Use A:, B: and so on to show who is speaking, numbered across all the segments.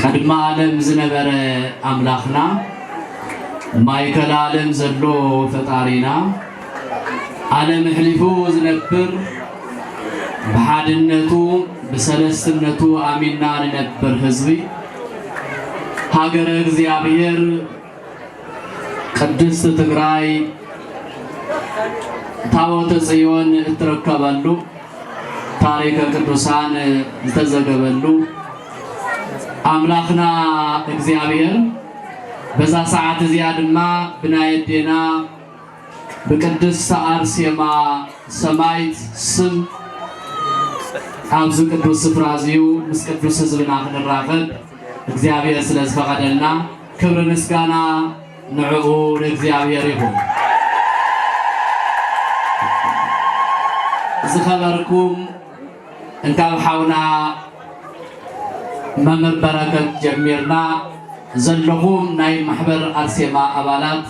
A: ቅድሚ ኣለም ዝነበረ ኣምላክና ማይከል ኣለም ዘሎ ፈጣሪና ኣለም ኣሕሊፉ ዝነብር ብሓድነቱ ብሰለስትነቱ ኣሚና ንነብር ህዝቢ ሃገረ እግዚኣብሔር ቅድስት ትግራይ ታቦተ ጽዮን እትርከበሉ ታሪከ ቅዱሳን ዝተዘገበሉ ኣምላኽና እግዚኣብሔር በዛ ሰዓት እዚኣ ድማ ብናየዴና ብቅድስተ ኣርሴማ ሰማይት ስም ኣብዚ ቅዱስ ስፍራ እዚዩ ምስ ቅዱስ ህዝብና ክንራኸብ እግዚኣብሔር ስለ ዝፈቐደልና ክብሪ ምስጋና ንዕኡ ንእግዚኣብሔር ይኹን። ዝኸበርኩም እንካብ ሓውና መምህር በረከት ጀሚርና ዘለኹም ናይ ማሕበር ኣርሴማ ኣባላት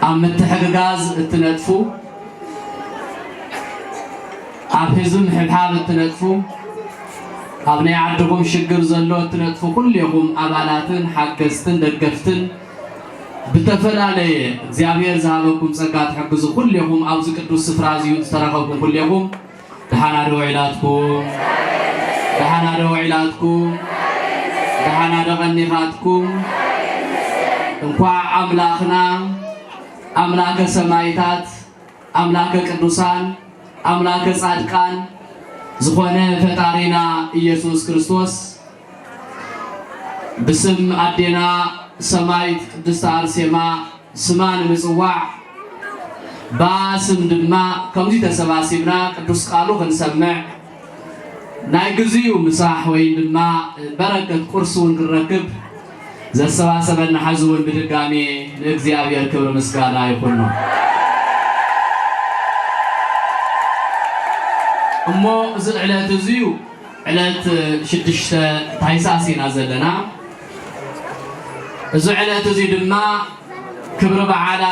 A: ኣብ ምትሕግጋዝ እትነጥፉ ኣብ ህዝቢ ምሕብሓብ እትነጥፉ ኣብ ናይ ዓድኹም ሽግር ዘሎ እትነጥፉ ኩሌኹም ኣባላትን ሓገዝትን ደገፍትን ብተፈላለየ እግዚኣብሔር ዝሃበኩም ጸጋ ትሕግዙ ኩሌኹም ኣብዚ ቅዱስ ስፍራ እዚዩ ዝተረኸብኩም ኩሌኹም ደሓና ዶ ውዒላትኩም ደሓና ዶ ውዒላትኩም ደሓና ዶ ቀኒኻትኩም እንኳዕ ኣምላኽና ኣምላከ ሰማይታት ኣምላከ ቅዱሳን ኣምላከ ጻድቃን ዝኾነ ፈጣሪና ኢየሱስ ክርስቶስ ብስም ኣዴና ሰማይት ቅድስቲ ኣርሴማ ስማ ንምጽዋዕ ብኣ ስም ድማ ከምዚ ተሰባሲብና ቅዱስ ቃሉ ክንሰምዕ ናይ ግዚኡ ምሳሕ ወይን ድማ በረከት ቁርሲ ውን ክንረክብ ዘሰባሰበና ሐዚ ውን ብድጋሜ ንእግዚኣብሔር ክብሪ ምስጋና ይኹኖ። እሞ እዚ ዕለት እዙዩ ዕለት ሽዱሽተ ታይሳስ ኢና ዘለና እዚ ዕለት እዙይ ድማ ክብሪ በዓላ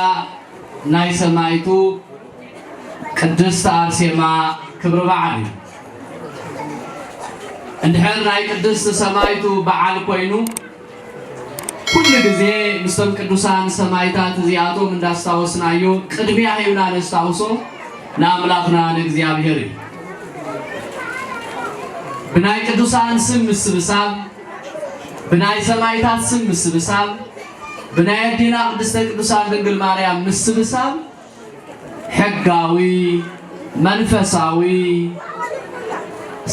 A: ናይ ሰማይቱ ቅድስት ኣርሴማ ክብሪ በዓል እዩ። እንድሕር ናይ ቅድስት ሰማይቱ በዓል ኮይኑ ኩሉ ግዜ ምስቶም ቅዱሳን ሰማይታት እዚኣቶም እንዳስታወስናዮ ቅድሚያ ሂብና ነስታውሶ ንኣምላኽና ንእግዚኣብሔር እዩ። ብናይ ቅዱሳን ስም ምስብሳብ፣ ብናይ ሰማይታት ስም ምስብሳብ፣ ብናይ ኣዴና ቅድስተ ቅዱሳን ድንግል ማርያም ምስብሳብ ሕጋዊ፣ መንፈሳዊ፣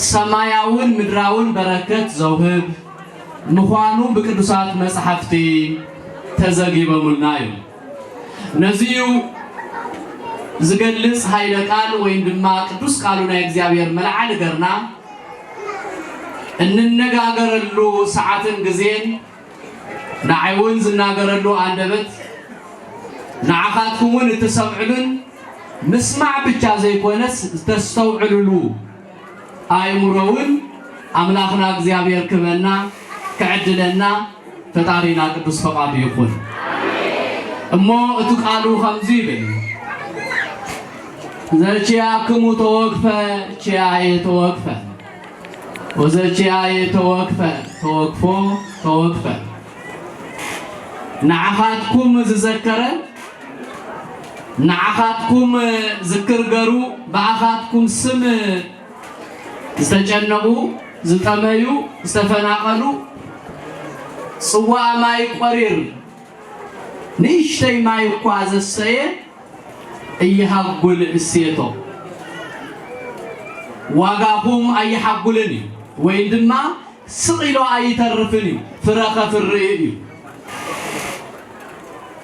A: ሰማያውን ምድራውን በረከት ዘውህብ ምዃኑ ብቅዱሳት መጻሕፍቲ ተዘጊበሙልና እዩ። ነዚዩ ዝገልጽ ኃይለ ቃል ወይም ድማ ቅዱስ ቃሉ ናይ እግዚኣብሔር መልዓሊ ገርና እንነጋገረሉ ሰዓትን ግዜን ንዓይ ውን ዝናገረሉ ኣንደበት ንዓኻትኩም ውን እትሰምዕሉን ምስማዕ ብቻ ዘይኮነስ ዝተስተውዕልሉ ኣእምሮ ውን ኣምላኽና እግዚኣብሔር ክበና ክዕድለና ፈጣሪና ቅዱስ ፈቃዱ ይኹን እሞ እቲ ቃሉ ከምዚ ይብል ዘቺያክሙ ተወግፈ ቺያየ ተወግፈ ኦዘችያየ ተወክፈ ተወክፎ ተወክፈ ንዓኻትኩም ዝዘከረ ንዓኻትኩም ዝክር ገሩ ብኣኻትኩም ስም ዝተጨነቑ ዝጠመዩ ዝተፈናቐሉ ጽዋእ ማይ ቆሪር ንእሽተይ ማይ እኳ ዘሰየ እይሃጉል እሴቶ ዋጋኹም ኣይሓጉልን እዩ ወይ ድማ ስቕ ኢሎ ኣይተርፍን እዩ ፍረ ከፍሪ እዩ።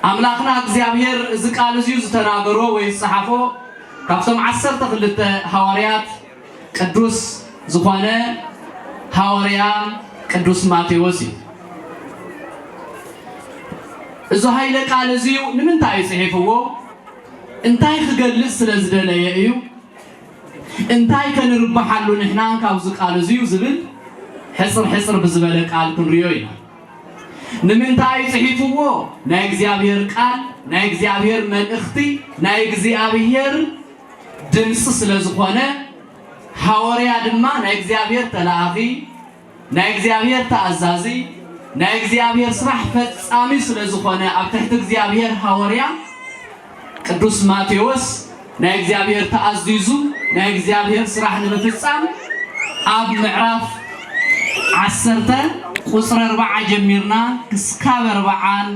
A: ኣምላኽና እግዚኣብሔር እዚ ቃል እዚዩ ዝተናገሮ ወይ ዝጸሓፎ ካብቶም ዓሰርተ ክልተ ሃዋርያት ቅዱስ ዝኾነ ሃወርያ ቅዱስ ማቴዎስ እዩ። እዚ ሃይለ ቃል እዚዩ ንምንታይ እዩ ጽሒፍዎ? እንታይ ክገልጽ ስለ ዝደለየ እዩ? እንታይ ከንርብሓሉ ንሕና ካብዚ ቃል እዚዩ ዝብል ሕጽር ሕጽር ብዝበለ ቃል ክንሪዮ ኢና። ንምንታይ ጽሒፍዎ? ናይ እግዚኣብሔር ቃል ናይ እግዚኣብሔር መልእኽቲ ናይ እግዚኣብሔር ድምጺ ስለ ዝኾነ ሃወርያ ድማ ናይ እግዚኣብሔር ተላኣኺ ናይ እግዚኣብሔር ተኣዛዚ ናይ እግዚኣብሔር ስራሕ ፈጻሚ ስለ ዝኾነ ኣብ ትሕቲ እግዚኣብሔር ሃወርያ ቅዱስ ማቴዎስ ናይ እግዚኣብሔር ተኣዚዙ ናይ እግዚኣብሔር ስራሕ ንምፍጻም ኣብ ምዕራፍ ዓሰርተ ቁፅሪ ኣርባዓ ጀሚርና ክስካብ ኣርባዓን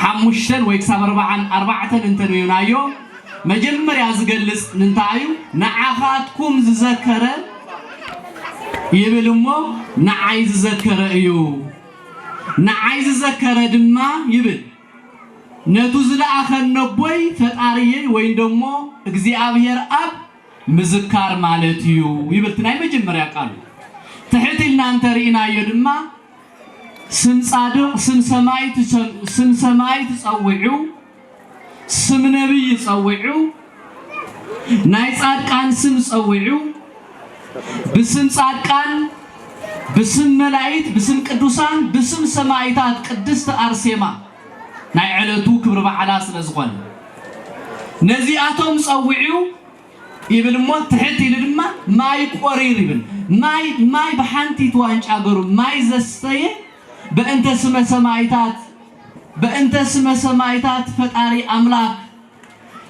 A: ሓሙሽተን ወይ ክሳብ ኣርባዓን ኣርባዕተን እንተ ርዩናዮ መጀመርያ ዝገልጽ ንንታይ እዩ ንዓኻትኩም ዝዘከረ ይብል እሞ ንዓይ ዝዘከረ እዩ ንዓይ ዝዘከረ ድማ ይብል ነቱ ዝለኣኸን ነቦይ ፈጣርየይ ወይ ደሞ እግዚኣብሔር ኣብ ምዝካር ማለት እዩ ይብል ናይ መጀመርያ ቃሉ ትሕት ኢልና እንተ ርኢናዮ ድማ ስም ጻድቕ ስም ሰማይ ትሰምዑ ስም ሰማይ ትጸውዑ ስም ነብይ ጸውዑ ናይ ጻድቃን ስም ጸውዑ ብስም ጻድቃን ብስም መላእክት ብስም ቅዱሳን ብስም ሰማይታት ቅድስቲ ኣርሴማ ናይ ዕለቱ ክብሪ በዓላ ስለ ዝኾነ ነዚኣቶም ጸውዑ ይብል እሞ ትሕት ኢሉ ድማ ማይ ቆሪር ይብል ማይ ማይ ብሓንቲት ዋንጫ ገሩ ማይ ዘስተየ በእንተ ስመ ሰማይታት በእንተ ስመ ሰማይታት ፈጣሪ ኣምላክ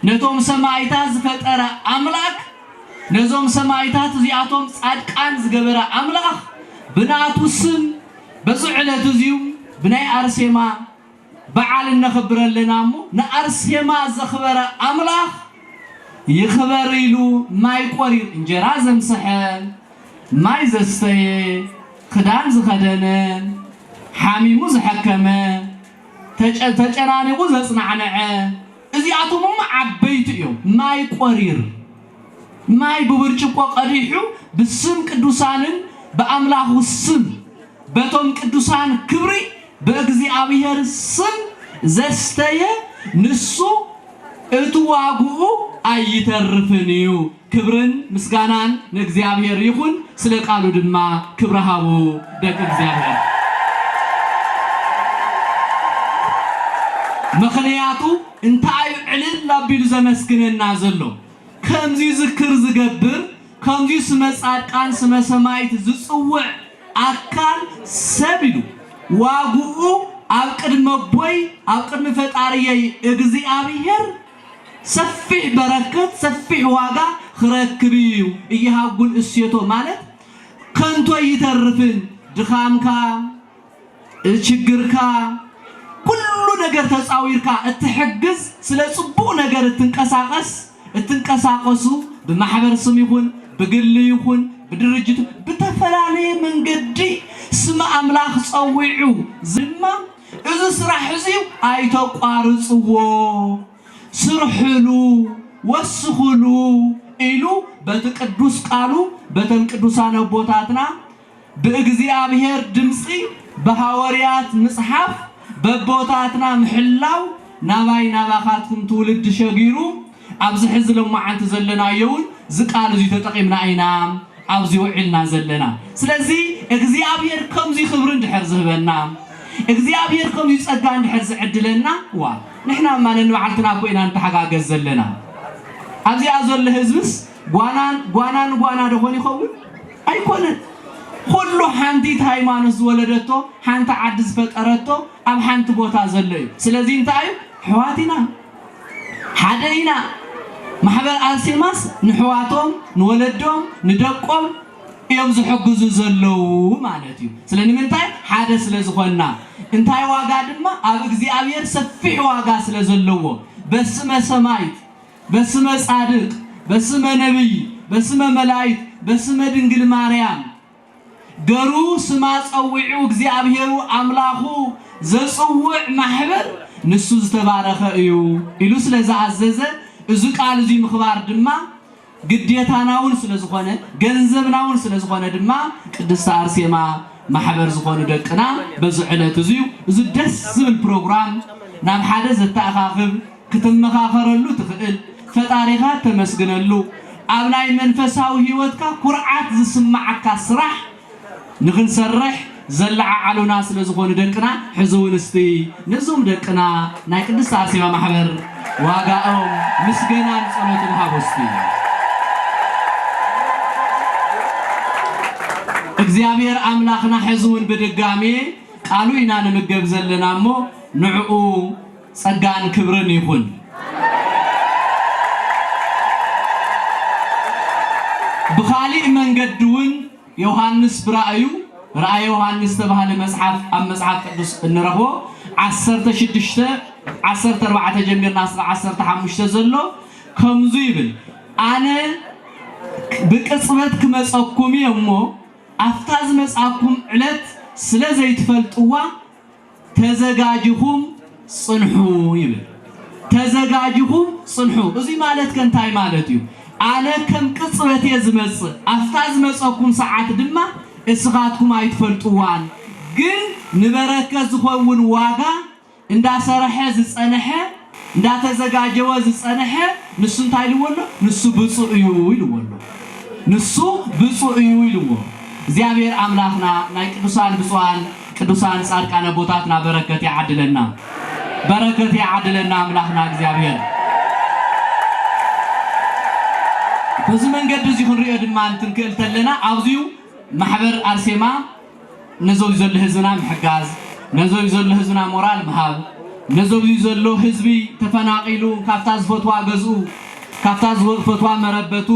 A: ነቶም ሰማይታት ዝፈጠረ ኣምላክ ነዞም ሰማይታት እዚኣቶም ጻድቃን ዝገበረ ኣምላኽ ብናቱ ስም በዚ ዕለት እዚዩ ብናይ ኣርሴማ በዓል እነኽብር ኣለና እሞ ንኣርሴማ ዘኽበረ ኣምላኽ ይኽበር ኢሉ ማይ ቆሪር እንጀራ ዘምሰሐ ማይ ዘስተየ ኽዳን ዝኸደነ ሓሚሙ ዝሐከመ ተጨናኒቑ ዘፅናዕነዐ እዚኣቶም እሞ ዓበይቲ እዮም፣ ማይ ቈሪር፣ ማይ ብብርጭቆ ቀዲሑ ብስም ቅዱሳንን ብኣምላኹ ስም በቶም ቅዱሳን ክብሪ በእግዚኣብሔር ስም ዘስተየ ንሱ እቲ ዋግኡ ኣይተርፍን እዩ። ክብርን ምስጋናን ንእግዚኣብሔር ይኹን ስለ ቃሉ ድማ ክብሪ ሃቡ ደቂ እግዚኣብሔር። ምኽንያቱ እንታይ እዩ ዕልል ኣቢሉ ዘመስግነና ዘሎ? ከምዚ ዝክር ዝገብር ከምዚ ስመ ጻድቃን ስመ ሰማይት ዝጽውዕ ኣካል ሰብ ኢሉ ዋግኡ ኣብ ቅድመ ቦይ ኣብ ቅድሚ ፈጣሪየይ እግዚኣብሔር ሰፊሕ በረከት ሰፊሕ ዋጋ ኽረክብ እዩ እይሃጉል እሴቶ ማለት ከንቶ እይተርፍን ድኻምካ እችግርካ ኩሉ ነገር ተፃዊርካ እትሕግዝ ስለ ፅቡቅ ነገር እትንቀሳቀስ እትንቀሳቀሱ ብማሕበር ስም ይኹን ብግሊ ይኹን ብድርጅት ብተፈላለየ መንገዲ ስም ኣምላክ ፀዊዑ ድማ እዚ ስራሕ እዚዩ ኣይተቋርጽዎ ስርሕሉ ወስኽሉ ኢሉ በቲ ቅዱስ ቃሉ በተን ቅዱሳን ኣቦታትና ብእግዚኣብሔር ድምጺ ብሃወርያት ምጽሓፍ በቦታትና ምሕላው ናባይ ናባኻትኩም ትውልዲ ሸጊሩ ኣብዚ ሕዚ ሎማዓንቲ ዘለናዮ እውን እዚ ቃል እዙይ ተጠቂምና ኢና ኣብዚ ውዒልና ዘለና። ስለዚ እግዚኣብሔር ከምዙይ ክብሪ እንድሕር ዝህበና፣ እግዚኣብሔር ከምዙይ ፀጋ እንድሕር ዝዕድለና እዋ ንሕና ድማ ነንባዕልትና እኮ ኢና ንተሓጋገዝ ዘለና። ኣብዚኣ ዘሎ ህዝብስ ጓና ጓና ንጓና ዶ ኾን ይኸውን? ኣይኮነን። ኩሉ ሓንቲት ሃይማኖት ዝወለደቶ ሓንቲ ዓዲ ዝፈጠረቶ ኣብ ሓንቲ ቦታ ዘሎ እዩ። ስለዚ እንታይ እዩ? ኣሕዋት ኢና። ሓደ ኢና ማሕበር ኣርሴማስ ንሕዋቶም ንወለዶም ንደቆም እዮም ዝሕግዙ ዘለዉ ማለት እዩ ስለ ንምንታይ ሓደ ስለ ዝኾንና እንታይ ዋጋ ድማ ኣብ እግዚኣብሔር ሰፊሕ ዋጋ ስለ ዘለዎ በስመ ሰማይት በስመ ጻድቅ በስመ ነብይ በስመ መላይት በስመ ድንግል ማርያም ገሩ ስማ ጸዊዑ እግዚኣብሔሩ ኣምላኹ ዘጽውዕ ማሕበር ንሱ ዝተባረኸ እዩ ኢሉ ስለ ዝኣዘዘ እዙ ቃል እዙይ ምኽባር ድማ ግዴታናውን ስለ ዝኾነ ገንዘብናውን ስለ ዝኾነ ድማ ቅድስተ ኣርሴማ ማሕበር ዝኾኑ ደቅና በዚ ዕለት እዙዩ እዙ ደስ ዝብል ፕሮግራም ናብ ሓደ ዘተኣኻኽብ ክትመኻኸረሉ ትኽእል፣ ፈጣሪኻ እተመስግነሉ፣ ኣብ ናይ መንፈሳዊ ህይወትካ ኩርዓት ዝስምዓካ ስራሕ ንኽንሰርሕ ዘለዓዓሉና ስለ ዝኾኑ ደቅና ሕዚ እውን እስቲ ነዞም ደቅና ናይ ቅድስት ኣርሴማ ማሕበር ዋጋኦም ምስገናን ጸሎትን ሃቡ እስቲ እግዚኣብሔር ኣምላኽና ሕዚ እውን ብድጋሜ ቃሉ ኢና ንምገብ ዘለና እሞ ንዕኡ ጸጋን ክብርን ይኹን። ብኻሊእ መንገዲ ውን ዮሃንስ ብራእዩ፣ ራእየ ዮሃንስ ዝተባህለ መጽሓፍ ኣብ መጽሓፍ ቅዱስ እንረኽቦ ዓሰርተ ሽዱሽተ ዓሰርተ ኣርባዕተ ጀሚርና እስከ ዓሰርተ ሓሙሽተ ዘሎ ከምዙ ይብል ኣነ ብቅጽበት ክመጸኩም እየ እሞ ኣፍታ ዝመጽኣኩም ዕለት ስለ ዘይትፈልጥዋ ተዘጋጅኹም ጽንሑ ይብል። ተዘጋጅኹም ጽንሑ እዙይ ማለት ከ እንታይ ማለት እዩ? ኣነ ከም ቅጽበት እየ ዝመጽእ፣ ኣፍታ ዝመጸኩም ሰዓት ድማ እስኻትኩም ኣይትፈልጥዋን። ግን ንበረከት ዝኸውን ዋጋ እንዳሰረሐ ዝጸነሐ እንዳተዘጋጀወ ዝጸነሐ ንሱ እንታይ ኢልዎ ኣሎ ንሱ ብጹእ እዩ ኢልዎ ኣሎ ንሱ ብጹእ እዩ ኢልዎ እግዚኣብሔር ኣምላክና ናይ ቅዱሳን ብጹኣን ቅዱሳን ጻድቃን ኣቦታትና በረከት ይዓድለና በረከት ይዓድለና ኣምላክና እግዚኣብሔር በዚ መንገዲ እዚ ክንሪኦ ድማ እንትንክእል ተለና ኣብዚዩ ማሕበር ኣርሴማ ነዞዩ ዘሎ ህዝብና ምሕጋዝ ነዞዩ ዘሎ ህዝብና ሞራል ምሃብ ነዞብዩ ዘሎ ህዝቢ ተፈናቂሉ ካብታ ዝፈትዋ ገዝኡ ካብታ ዝፈትዋ መረበቱ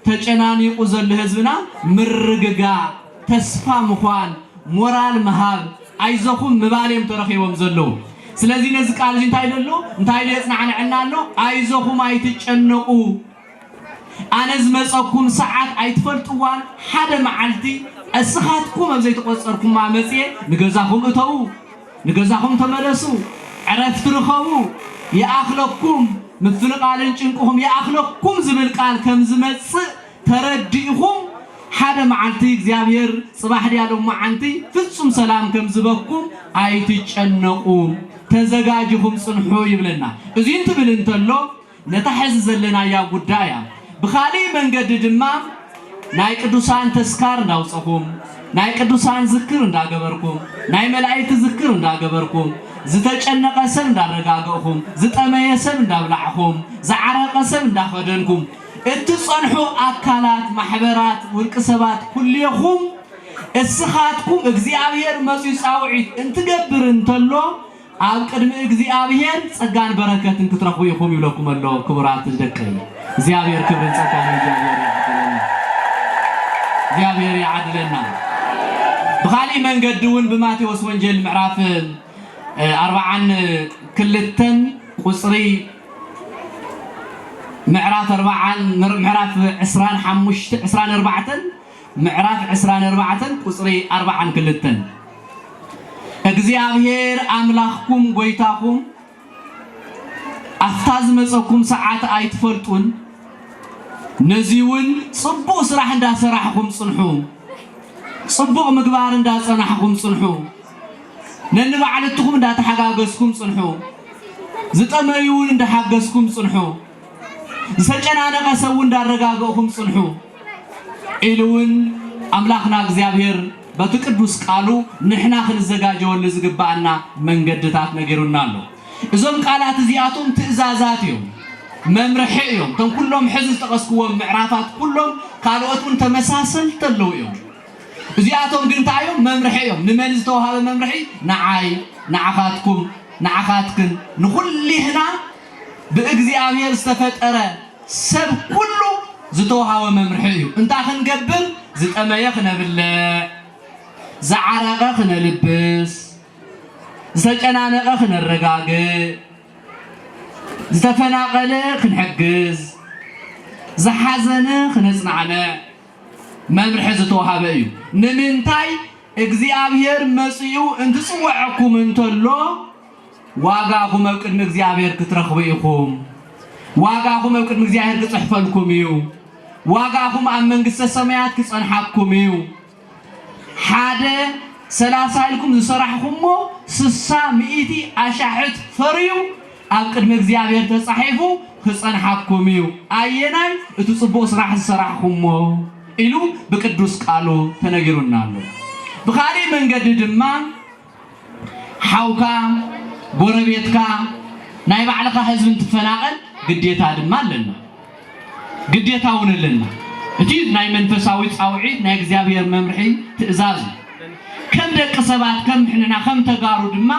A: ተጨናኒቁ ዘሎ ህዝብና ምርግጋእ ተስፋ ምዃን ሞራል ምሃብ ኣይዞኹም ምባል እዮም ተረኺቦም ዘለዉ ስለዚ ነዚ ቃልዚ እንታይ ደሎ እንታይ ደየፅናዕንዐና ኣሎ ኣይዞኹም ኣይትጨነቁ ኣነ ዝመጸኩን ሰዓት ኣይትፈልጥዋን ሓደ መዓልቲ እስኻትኩም ኣብ ዘይተቆጸርኩማ መጽየ ንገዛኹም እተዉ ንገዛኹም ተመለሱ ዕረፍቲ ርኸቡ ይኣኽለኩም ምፍንቓልን ጭንቅኹም ይኣኽለኩም ዝብል ቃል ከም ዝመጽእ ተረዲእኹም ሓደ መዓልቲ እግዚኣብሔር ጽባሕ ድያ ሎማዓንቲ ፍጹም ሰላም ከም ዝበኩም ኣይትጨነቁ ተዘጋጅኹም ጽንሑ ይብለና እዚ እንትብል እንተሎ ነታ ሕዚ ዘለናያ ጉዳያ ብኻሊእ መንገዲ ድማ ናይ ቅዱሳን ተስካር እንዳውጸኹም ናይ ቅዱሳን ዝክር እንዳገበርኩም ናይ መላኢክት ዝክር እንዳገበርኩም ዝተጨነቀ ሰብ እንዳረጋገእኹም ዝጠመየ ሰብ እንዳብላዕኹም ዝዓረቀ ሰብ እንዳኸደንኩም እትጸንሑ ኣካላት ማሕበራት ውልቅ ሰባት ኩሌኹም እስኻትኩም እግዚኣብሔር መጽዩ ጻውዒት እንትገብር እንተሎ ኣብ ቅድሚ እግዚኣብሔር ጸጋን በረከትን ክትረኽቡ ኢኹም ይብለኩም ኣሎ ክቡራት ደቀይ እግዚኣብሔር ክብርን ጸጋን ንእግዚኣብሔር ይዓድለና እግዚኣብሔር ይዓድለና ብኻሊእ መንገዲ እውን ብማቴዎስ ወንጌል ምዕራፍ እ፣ ኣርባዓን ክልተን ቁጽሪ ምዕራፍ ኣርባዓን ምር- ምዕራፍ ዕስራን ሓሙሽተ ዕስራን ኣርባዕተን ምዕራፍ ዕስራን ኣርባዕተን ቁጽሪ ኣርባዓን ክልተን እግዚኣብሄር ኣምላኽኩም ጐይታኹም ኣብታ ዝመጸኩም ሰዓት ኣይትፈልጡን፣ ነዚውን ጽቡቕ ስራሕ እንዳ ሰራሕኹም ጽንሑ፣ ጽቡቕ ምግባር እንዳ ጸናሕኹም ጽንሑ፣ ነንባዕልትኹም እንዳ ተሓጋገዝኩም ጽንሑ፣ ዝጠመዩውን እንዳ ሓገዝኩም ጽንሑ፣ ዝተጨናነቐ ሰብውን እንዳረጋገእኹም ጽንሑ። ኢሉ እውን ኣምላኽና እግዚኣብሔር በቲ ቅዱስ ቃሉ ንሕና ክንዘጋጀወሉ ዝግበኣና መንገድታት ነጊሩና ኣሎ። እዞም ቃላት እዚኣቶም ትእዛዛት እዮም፣ መምርሒ እዮም። እቶም ኩሎም ሕዚ ዝጠቐስክዎም ምዕራፋት ኩሎም ካልኦት እውን ተመሳሰልቲ ኣለዉ እዮም። እዚኣቶም ግን እንታይ እዮም? መምርሒ እዮም። ንመን ዝተውሃበ መምርሒ? ንዓይ፣ ንዓኻትኩም፣ ንዓኻትክን፣ ንኹሊህና ብእግዚኣብሔር ዝተፈጠረ ሰብ ኩሉ ዝተውሃቦ መምርሒ እዩ። እንታይ ክንገብር? ዝጠመየ ክነብልዕ፣ ዝዓረቐ ክነልብስ፣ ዝተጨናነቐ ክነረጋግእ፣ ዝተፈናቐለ ክንሕግዝ፣ ዝሓዘነ ክነጽናዕንዕ መምርሒ ዝተውሃበ እዩ። ንምንታይ? እግዚኣብሔር መጺኡ እንትጽወዐኩም እንተሎ ዋጋኹም ኣብ ቅድሚ እግዚኣብሔር ክትረኽቡ ኢኹም። ዋጋኹም ኣብ ቅድሚ እግዚኣብሔር ክጽሕፈልኩም እዩ። ዋጋኹም ኣብ መንግሥተ ሰማያት ክጸንሓኩም እዩ። ሓደ ሰላሳ ኢልኩም ዝሰራሕኹሞ ስሳ ሚእቲ ኣሻሕት ፈርዩ ኣብ ቅድሚ እግዚኣብሔር ተጻሒፉ ክጸንሓኩም እዩ። ኣየናይ እቲ ጽቡቕ ስራሕ ዝሰራሕኹሞ ኢሉ ብቅዱስ ቃሉ ተነጊሩና ኣሎ። ብኻሊእ መንገዲ ድማ ሓውካ ጎረቤትካ ናይ ባዕልኻ ህዝቢ እንትፈናቐል ግዴታ ድማ ኣለና ግዴታ እውን ኣለና እቲ ናይ መንፈሳዊ ጻውዒት ናይ እግዚኣብሔር መምርሒ ትእዛዝ ከም ደቂ ሰባት ከም ምሕንና ከም ተጋሩ ድማ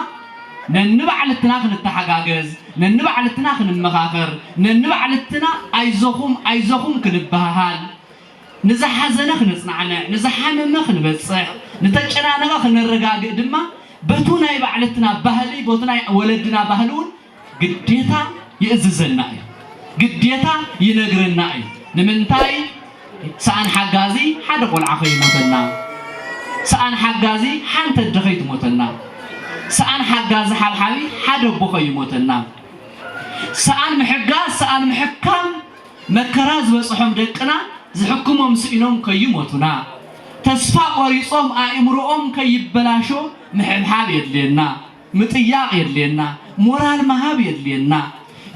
A: ነንባዕልትና ክንተሓጋገዝ ነንባዕልትና ክንመኻኸር ነንባዕልትና ኣይዞኹም ኣይዞኹም ክንበሃሃል ንዝሓዘነ ክነጽናዕንዕ፣ ንዝሓመመ ክንበጽሕ፣ ንተጨናነቐ ክነረጋግእ ድማ በቱ ናይ ባዕልትና ባህሊ ቦቲ ናይ ወለድና ባህሊ እውን ግዴታ ይእዝዘና እዩ። ግዴታ ይነግረና እዩ። ንምንታይ ሰኣን ሓጋዚ ሓደ ቆልዓ ከይሞተና፣ ሰኣን ሓጋዚ ሓንቲ ኣደ ከይትሞተና፣ ሰኣን ሓጋዚ ሓብሓቢት ሓደ ኣቦ ከይሞተና፣ ሰኣን ምሕጋዝ ሰኣን ምሕካም፣ መከራ ዝበጽሖም ደቅና ዝሕክሞም ስኢኖም ከይሞቱና፣ ተስፋ ቆሪጾም ኣእምሮኦም ከይበላሾ ምሕብሓብ የድልየና፣ ምጥያቕ የድልየና፣ ሞራል ምሃብ የድልየና።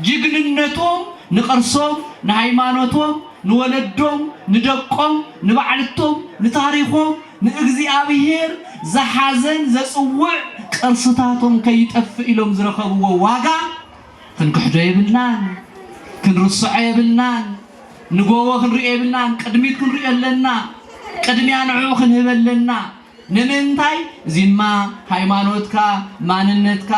A: ጅግንነቶም ንቅርሶም፣ ንሃይማኖቶም፣ ንወለዶም፣ ንደቆም፣ ንባዕልቶም፣ ንታሪኾም፣ ንእግዚኣብሄር ዝሓዘን ዘጽውዕ ቅርስታቶም ከይጠፍእ ኢሎም ዝረኸብዎ ዋጋ ክንክሕዶ የብልናን ክንርስዖ የብልናን ንጎቦ ክንሪኦ የብልናን ቅድሚት ክንሪኦ ኣለና ቅድሚያ ንዕኡ ክንህብ ኣለና ንምንታይ እዚማ ሃይማኖትካ ማንነትካ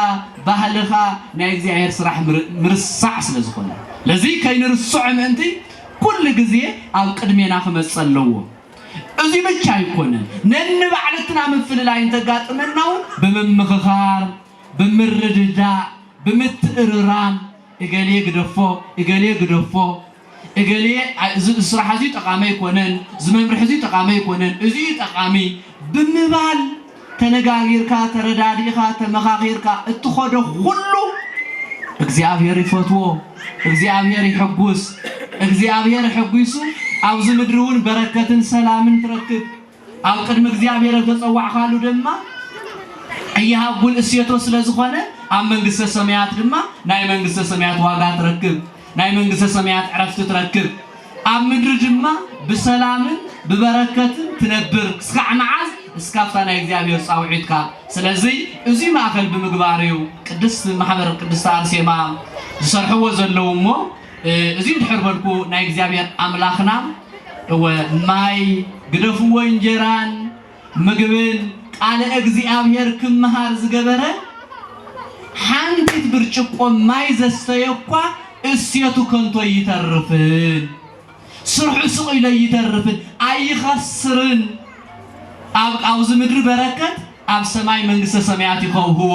A: ባህልኻ ናይ እግዚኣብሔር ስራሕ ምርሳዕ ስለ ዝኾነ ለዚ ከይንርስዖ ምእንቲ ኩሉ ግዜ ኣብ ቅድሜና ክመፅ ኣለዎ እዚ ብቻ ኣይኮነን ነንባዕልትና ምፍልላይ እንተጋጥመና እውን ብምምኽኻር ብምርድዳእ ብምትእርራም እገሌ ግደፎ እገሌ ግደፎ እገሌ እዚ ስራሕ እዚ ጠቓሚ ኣይኮነን እዚ መምርሒ እዚ ጠቓሚ ኣይኮነን እዚ እዩ ጠቓሚ ብምባል ተነጋጊርካ ተረዳዲእኻ ተመኻኺርካ እትኸዶ ኩሉ እግዚኣብሔር ይፈትዎ እግዚኣብሔር ይሕጉስ እግዚኣብሔር ሕጒሱ ኣብዚ ምድሪ እውን በረከትን ሰላምን ትረክብ ኣብ ቅድሚ እግዚኣብሔር እተጸዋዕካሉ ድማ እይሃጉል እሴቶ ስለ ዝኾነ ኣብ መንግሥተ ሰማያት ድማ ናይ መንግሥተ ሰማያት ዋጋ ትረክብ ናይ መንግሥተ ሰማያት ዕረፍቲ ትረክብ ኣብ ምድሪ ድማ ብሰላምን ብበረከትን ትነብር ክስካዕ መዓዝ እስካብታ ናይ እግዚኣብሔር ጻውዒትካ ስለዚህ እዙይ ማእከል ብምግባር እዩ ቅድስት ማሕበር ቅድስት ኣርሴማ ዝሰርሕዎ ዘለዉ እሞ እዙይ ድሕር በልኩ ናይ እግዚኣብሔር ኣምላኽና እወ ማይ ግደፍዎ እንጀራን ምግብን ቃለ እግዚኣብሔር ክምሃር ዝገበረ ሓንቲት ብርጭቆ ማይ ዘስተየ እኳ እሴቱ ከንቶ ኣይተርፍን፣ ስርሑ ስቕ ኢሎ ኣይተርፍን፣ ኣይኸስርን። ኣብዚ ምድሪ በረከት ኣብ ሰማይ መንግስተ ሰማያት ይኸውህዎ።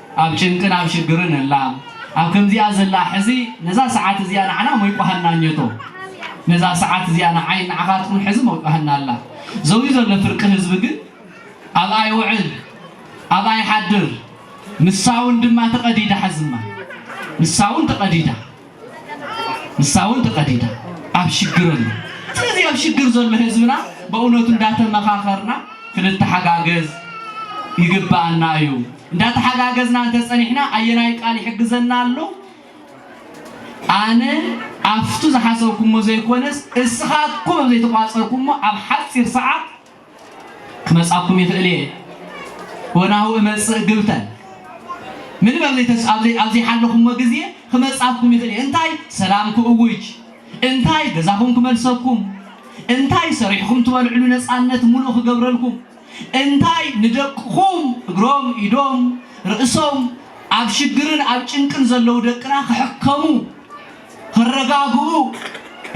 A: ኣብ ጭንቅን ኣብ ሽግርን እላ ኣብ ከምዚኣ ዘላ ሕዚ ነዛ ሰዓት እዚኣ ንዓና ሞይቋሃና ኘቶ ነዛ ሰዓት እዚኣ ንዓይን ንዓኻትኩን ሕዚ ሞይቋሃና ኣላ ዘውዩ ዘሎ ፍርቂ ህዝቢ ግን ኣብኣ ይውዕል ኣብኣ ይሓድር ንሳውን ድማ ተቐዲዳ ሕዝማ ንሳውን ተቐዲዳ ንሳ እውን ተቀዲዳ ኣብ ሽግር ኣሎ ስለዚ ኣብ ሽግር ዘሎ ህዝብና በእውነቱ እንዳተመኻኸርና ክንተሓጋገዝ ይግባኣና እዩ እንዳተሓጋገዝና እንተፀኒሕና ኣየናይ ቃል ይሕግዘና ኣሎ ኣነ ኣብቱ ዝሓሰብኩሞ ዘይኮነስ እስኻትኩም ኣብ ዘይተቋፀርኩሞ ኣብ ሓፂር ሰዓት ክመጻኩም ይኽእል እየ ወናሁ እመጽእ ግብተን ምንም ኣብ ዘይተስ- ኣብ ዘይ- ኣብ ዘይሓለኹሞ ግዜ ክመጻኩም ይኽእል እየ እንታይ ሰላም ክእውጅ እንታይ ገዛኹም ክመልሰኩም እንታይ ሰሪሕኩም ትበልዕሉ ነፃነት ሙሉእ ክገብረልኩም እንታይ ንደቅኹም እግሮም ኢዶም ርእሶም ኣብ ሽግርን ኣብ ጭንቅን ዘለዉ ደቅና ክሕከሙ ተረጋግኡ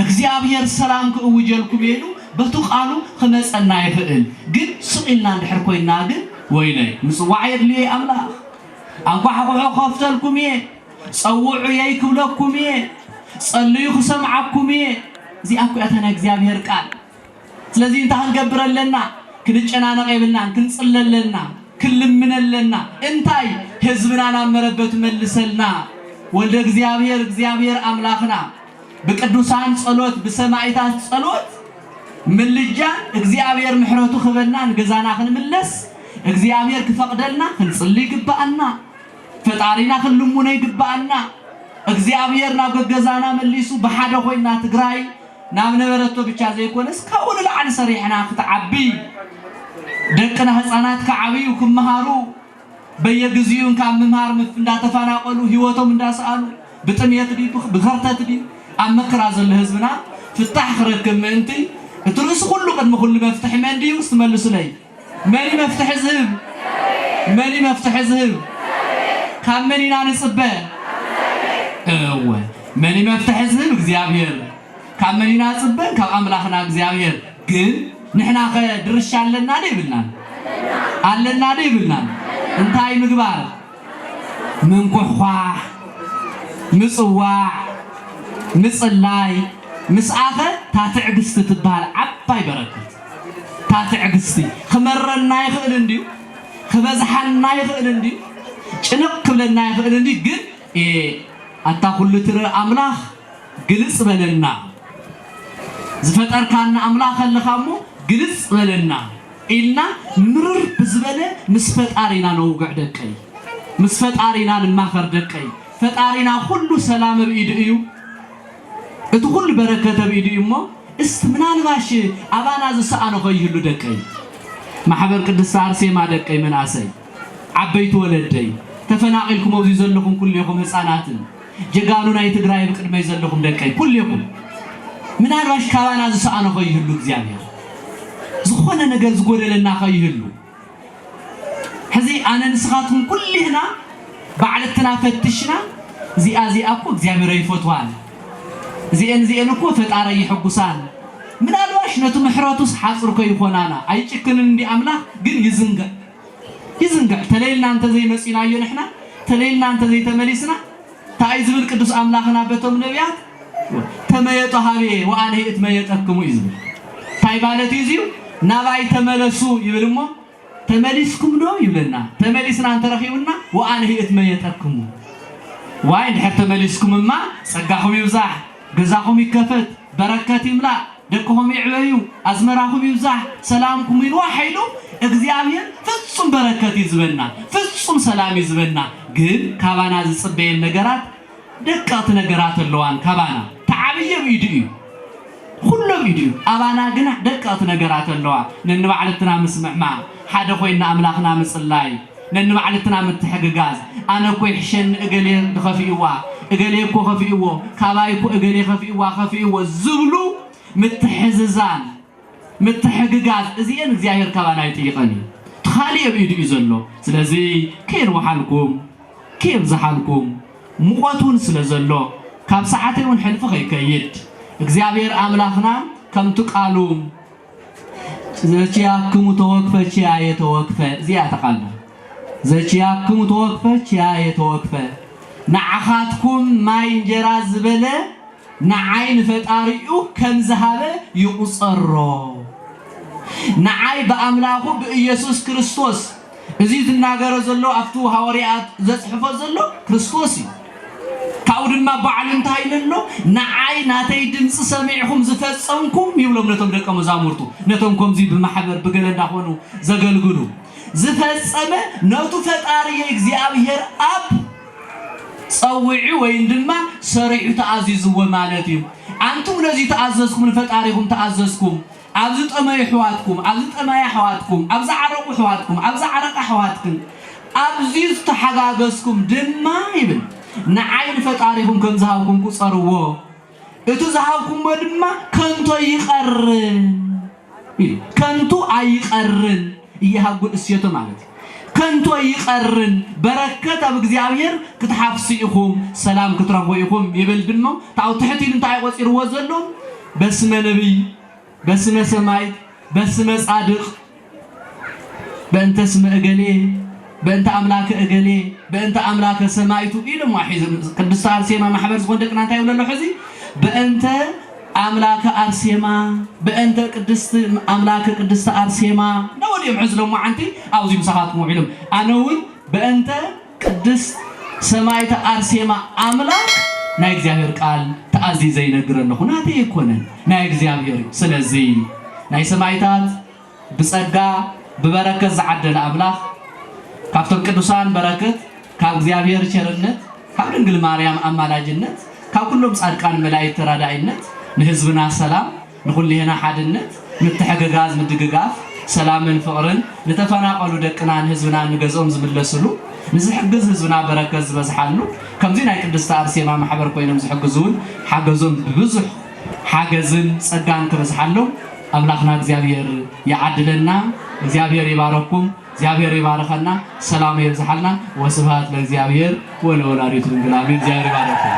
A: እግዚኣብሔር ሰላም ክእውጀልኩም እየ ኢሉ በቱ ቃሉ ክመፀና ይኽእል ግን ስቅ ኢልና እንድሕር ኮይንና ግን ወይለይ ምፅዋዕ የድልዮ እዩ ኣምላክ ኣንኳሕኩሑ ክኸፍተልኩም እየ ፀውዑየይ ክብለኩም እየ ፀልዩ ክሰምዓኩም እየ እዚኣ እኮ እያ እታ ናይ እግዚኣብሔር ቃል ስለዚ እንታይ ክንገብር ኣለና? ክንጨናነቕ የብልናን። ክንጽሊ ኣለና፣ ክንልምን ኣለና። እንታይ? ህዝብና ናብ መረበቱ መልሰልና። ወልደ እግዚኣብሔር እግዚኣብሔር ኣምላኽና ብቅዱሳን ጸሎት ብሰማይታት ጸሎት ምልጃን እግዚኣብሔር ምሕረቱ ክበና ንገዛና ክንምለስ እግዚኣብሔር ክፈቅደልና ክንጽሊ ይግባኣና። ፈጣሪና ክንልሙኖ ይግባኣና። እግዚኣብሔር ናብ ገገዛና መሊሱ ብሓደ ኮይና ትግራይ ናብ ነበረቶ ብቻ ዘይኮነስ ካብኡ ንላዕሊ ሰሪሕና ክትዓቢ ደቅና ህፃናት ክዓብዩ ክመሃሩ በየግዚኡን ካብ ምምሃር ምፍ እንዳተፋናቀሉ ህይወቶም እንዳሰኣኑ ብጥምየት ድዩ ብከርተት ድዩ ኣብ መከራ ዘሎ ህዝብና ፍታሕ ክረክብ ምእንቲ እቲ ርእሲ ኩሉ ቅድሚ ኩሉ መፍትሒ መን ድዩ ስትመልሱለይ መን እዩ መፍትሒ ዝህብ? መን እዩ መፍትሒ ዝህብ? ካብ መን ኢና ንጽበ? እወ መን እዩ መፍትሒ ዝህብ? እግዚኣብሔር። ካብ መን ኢና ጽበ? ካብ ኣምላኽና እግዚኣብሔር። ግን ንሕና ከ ድርሻ ኣለና ዶ የብልናን? ኣለና ዶ የብልናን? እንታይ ምግባር? ምንኩሕኳሕ፣ ምጽዋዕ፣ ምጽላይ ምስኣኸ እታ ትዕግስቲ ትበሃል ዓባይ በረከት እታ ትዕግስቲ ክመረና ይኽእል እንድዩ ክበዝሓና ይኽእል እንድዩ ጭንቕ ክብለና ይኽእል እንድዩ ግን ኤእ ኣታ ኩሉ ትርኢ ኣምላኽ ግልጽ በለና ዝፈጠርካና ኣምላኽ ኣለኻ እሞ ግልጽ በለና። ኢልና ምርር ብዝበለ ምስ ፈጣሪና ነውግዕ ደቀይ። ምስ ፈጣሪና ንማኸር ደቀይ። ፈጣሪና ኩሉ ሰላም እብ ኢዱ እዩ። እቲ ኩሉ በረከት እብ ኢዱ እዩ እሞ እስቲ ምናልባሽ ኣባና ዝሰኣኖ ከይህሉ ደቀይ። ማሕበር ቅድስት ኣርሴማ ደቀይ መንኣሰይ። ዓበይቲ ወለደይ። ተፈናቂልኩም ኣብዙይ ዘለኹም ኩሌኹም ህፃናትን። ጀጋኑ ናይ ትግራይ ኣብ ቅድመይ ዘለኹም ደቀይ ኩሌኹም ምናልባሽ ካባና ዝሰኣኖ ከይህሉ እግዚኣብሔር ዝኾነ ነገር ዝጎደለና ከይህሉ ሕዚ ኣነ ንስኻትኩም ኩሌህና ባዕልትና ፈትሽና እዚኣ እዚኣ እኮ እግዚኣብሔር ኣይፈትዋን እዚኤን እዚኤን እኮ ፈጣሪ ኣይሕጉሳን ምናልባሽ ነቲ ምሕረቱስ ሓፅር ከይኾናና ኣይጭክንን እንዲ ኣምላኽ ግን ይዝንግዕ ይዝንግዕ ተለይልና እንተዘይመጺናዮ ንሕና ተለይልና እንተዘይተመሊስና ታኣዩ ዝብል ቅዱስ ኣምላኽና በቶም ነብያት ተመየጡ ሃቤ ወኣነሂ እትመየጠክሙ እዩ ዝብል ታይ ማለት እዩ እዚዩ ናባይ ተመለሱ ይብል እሞ ተመሊስኩም ዶ ይብለና ተመሊስና እንተረኺቡና ወኣነሂ እትመየጠክሙ ዋይ እንድሕር ተመሊስኩም እማ ጸጋኹም ይብዛሕ ገዛኹም ይከፈት፣ በረከት ይምላእ፣ ደቅኹም ይዕበዩ፣ ኣዝመራኹም ይብዛሕ፣ ሰላምኩም ውን ዋሕ ኢሉ እግዚኣብሄር ፍጹም በረከት እዩ ዝበና፣ ፍጹም ሰላም እዩ ዝበና። ግን ካባና ዝጽበየን ነገራት ደቀቕቲ ነገራት ኣለዋን ካባና። እቲ ዓብዪ ኣብ ኢዱ እዩ። ኹሉ ኣብ ኢዱ እዩ። ኣባና ግና ደቀቕቲ ነገራት ኣለዋ። ነንባዕልትና ምስምዕማዕ፣ ሓደ ኮይና ኣምላኽና ምጽላይ፣ ነንባዕልትና ምትሕግጋዝ፣ ኣነ እኮ ይሕሸኒ እገሌ እንተኸፊኡዋ፣ እገሌ እኮ ከፊኡዎ፣ ካባይ እኮ እገሌ ከፊኡዋ፣ ከፊኡዎ ዝብሉ ምትሕዝዛን፣ ምትሕግጋዝ እዚኤን እግዚኣብሔር ካባና ኣይጥይቐን እዩ። እቲ ኻሊእ ኣብ ኢዱ እዩ ዘሎ። ስለዚ ከየንውሓልኩም፣ ከየብዝሓልኩም ሙቐት እውን ስለ ዘሎ ካብ ሰዓተይ እውን ሕልፊ ከይከይድ እግዚኣብሔር ኣምላኽና ከምቲ ቃሉ ዘቺያክሙ ተወክፈ ቺያየ ተወክፈ እዚኣ እታ ቃል ድር ዘቺያክሙ ተወክፈ ቺያየ ተወክፈ ንዓኻትኩም ማይ እንጀራ ዝበለ ንዓይ ንፈጣሪኡ ከም ዝሃበ ይቑፀሮ ንዓይ ብኣምላኹ ብኢየሱስ ክርስቶስ እዚ ዝናገሮ ዘሎ ኣብቱ ሃወርያኣት ዘጽሕፎ ዘሎ ክርስቶስ እዩ ካብኡ ድማ ባዕሉ እንታይ ኢሉ ኣሎ ንዓይ ናተይ ድምጺ ሰሚዕኹም ዝፈጸምኩም ይብሎም ነቶም ደቀ መዛሙርቱ ነቶም ከምዚ ብማሕበር ብገለ እንዳኾኑ ዘገልግሉ ዝፈጸመ ነቱ ፈጣሪ እግዚኣብሔር ኣብ ጸዊዑ ወይም ድማ ሰሪዑ ተኣዚዝዎ ማለት እዩ ኣንቱም ነዚ ተኣዘዝኩም ንፈጣሪኹም ተኣዘዝኩም ኣብ ዝጠመዩ ኣሕዋትኩም፣ ኣብ ዝጠመያ ኣሕዋትኩም፣ ኣብ ዝዓረቑ ኣሕዋትኩም፣ ኣብ ዝዓረቓ ኣሕዋትክን፣ ኣብዚ ዝተሓጋገዝኩም ድማ ይብል፣ ንዓይ ንፈጣሪኹም ከም ዝሃብኩም ቁጸርዎ፣ እቲ ዝሃብኩምዎ ድማ ከንቱ ኣይቐርን ኢሉ፣ ከንቱ ኣይቐርን እየሃጉል እሴቱ ማለት እዩ። ከንቶ ይቀርን በረከት ኣብ እግዚኣብሔር ክትሓፍሱ ኢኹም ሰላም ክትረኽቡ ኢኹም ይብል ድሞ ታው ትሕት ኢሉ እንታይ እዩ ቆጺርዎ ዘሎ በስመ ነብይ በስመ ሰማይት በስመ ጻድቅ በእንተ ስመ እገሌ በእንተ ኣምላከ እገሌ በእንተ ኣምላከ ሰማይቱ ኢሉ ሒዙ ቅድስተ ኣርሴማ ማሕበር ዝኾን ደቅና እንታይ ይብለሎ ሕዚ በእንተ ኣምላከ ኣርሴማ በእንተ ቅድስት ኣምላከ ቅድስት ኣርሴማ ነበሉ እዮም ሕዚ ሎማዓንቲ ኣብዙይ ምሳኻትኩም ውዒሎም ኣነ እውን በእንተ ቅድስት ሰማይተ ኣርሴማ ኣምላክ ናይ እግዚኣብሔር ቃል ተኣዚዘ ይነግር ኣለኹ ናተይ ኣይኮነን ናይ እግዚኣብሔር እዩ ስለዙይ ናይ ሰማይታት ብጸጋ ብበረከት ዝዓደለ ኣምላኽ ካብቶም ቅዱሳን በረክት ካብ እግዚኣብሔር ቸርነት ካብ ድንግል ማርያም ኣማላጅነት ካብ ኩሎም ጻድቃን መላእክት ተራዳኢነት ንህዝብና ሰላም ንኩልሔና ሓድነት ምትሕግጋዝ ምድግጋፍ ሰላምን ፍቅርን ንተፈናቀሉ ደቅናን ህዝብናን ንገዝኦም ዝምለስሉ ንዝሕግዝ ህዝብና በረከት ዝበዝሓሉ ከምዚ ናይ ቅድስቲ ኣርሴማ ማሕበር ኮይኖም ዝሕግዙውን ሓገዞም ብብዙሕ ሓገዝን ጸጋን ክበዝሓሎም ኣምላኽና እግዚኣብሔር ይዓድለና እግዚኣብሔር ይባረኩም እግዚኣብሔር ይባርኸና ሰላሙ የብዝሓልና ወስብሃት ለእግዚኣብሔር ወለወላዲቱ ድንግል ኣሜን እግዚኣብሔር ይባርኩም።